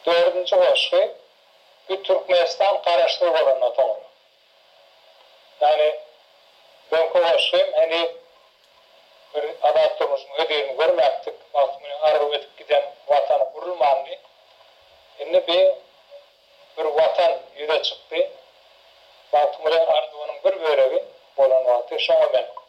Dördünji goşgy bu Türkmenistan garaşsyz bolandan soňra. Ýagny öňki goşgy hem heniz bir adat durmuşyň hözirini görmäpdik, wagty bilen arylyp ötüp giden Watan gurulmandy. Indi bi bir Watan ýüze çykdy. Wagtyň bilen arzuwynyň bir bölegi bolan wagty şoňa men.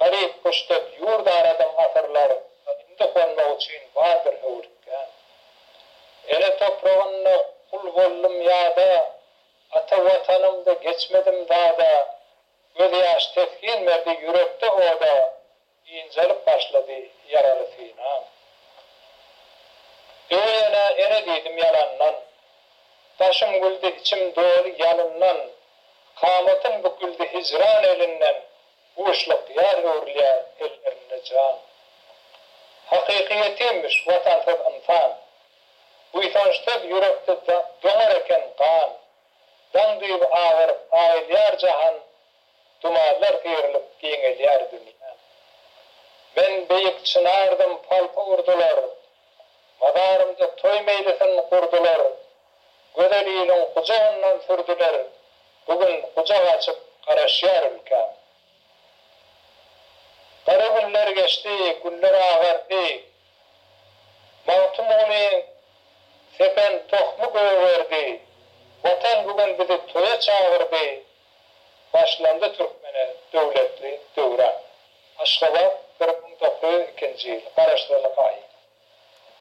Garyp kuşdek ýurt aradyň asyrlar, indi gonmak üçin bar bir höwürtgäm. Ene topragynda gul boldum ýada, ata Watanymda geçmedim dada. Gözýaş teskin berdi ýürekde oda, ynjalyp başlady ýaraly synam. Öweýene ene diýdim ýalandan, daşym güldi içim doly ýalyndan. Kamatyň büküldi hijran elinden, Boşluk ýar öwrülýär ellerinde jan. Hakyky ýetimmiş watansyz ynsan. Buýsançsyz ýürekde doňar eken gan. Daň düýbi agaryp aýylýar jahan, Dumanlar syrylyp giňelýär dünýäm. Men beýik çynardym palta urdular, Mazarymda toý meýlisin gurdular. Gözel iliň gujagyndan sürdüler, Bu gün gujak açyp garaşýar ülkäm. Gara günler geçdi, güller agardy, Magtymguly sepen tohmy gögerdi, Watan bu gün bizi toýa çagyrdy, Başlandy türkmene döwletli döwran. Aşgabat, bir müň dokuz ýüz ikinji ýyl, Garaşsyzlyk aýy.